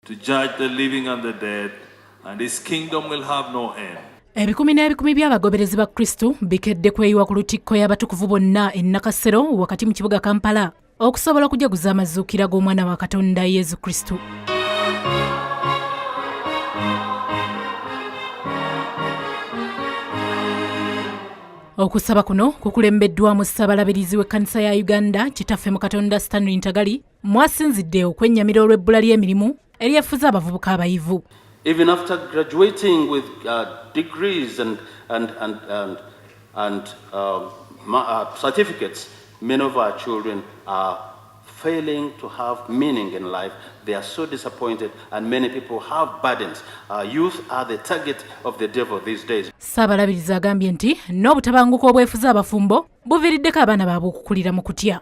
To judge the living and the dead, and his kingdom will have no end. ebikumi n'ebikumi by'abagoberezi ba kristo bikedde kweyiwa ku lutikko y'abatukuvu bonna e nakasero wakati mu kibuga kampala okusobola okujaguza amazuukira g'omwana wa katonda yesu kristo okusaba kuno kukulembeddwamu ssabalabirizi w'ekkanisa ya uganda kitaffe mu katonda stanley ntagali mwasinzidde okwennyamira olw'ebbula ly'emirimu eryefuze abavubuka abayivu even after graduating with uh, degrees and, and, and, and, and um, uh, certificates many of our children are failing to have meaning in life. They are so disappointed and many people have burdens. Our youth are the target of the devil these days. Saabalabiriza agambye nti n'obutabanguko obwefuza abafumbo buviiriddeko abaana baabwe okukulira mu kutya.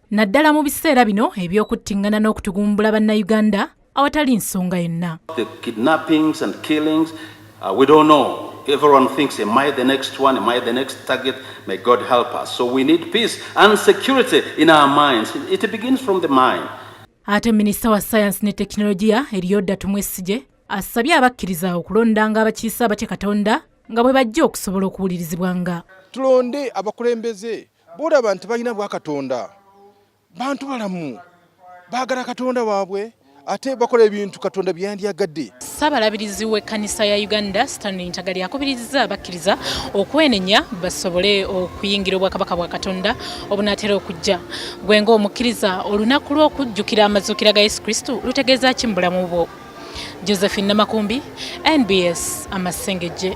naddala mu biseera bino eby'okuttingana n'okutugumbula bannayuganda awatali nsonga yonna everyone thinks, Am I the next one? Am I the next target? May God help us. So we need peace and security in our minds. It begins from the mind. ate minisita wa sayansi ne tekinologiya eriyoda tumwesigye asabye abakkiriza okulondanga abakiise abatya katonda nga bwe bajja okusobola okuwulirizibwanga tulonde abakulembeze Bw'olaba nti balina bwa Katonda, bantu balamu, baagala Katonda waabwe ate bakola ebintu katonda byeyandyagadde ssabalabirizi w'ekkanisa ya uganda stanley ntagali akubirizza abakkiriza okwenenya basobole okuyingira obwakabaka bwa katonda obunaatera okujja gwe ng'omukkiriza olunaku lw'okujjukira amazuukira ga yesu kristo lutegeeza ki mu bulamu bwo josephine namakumbi nbs amasengejje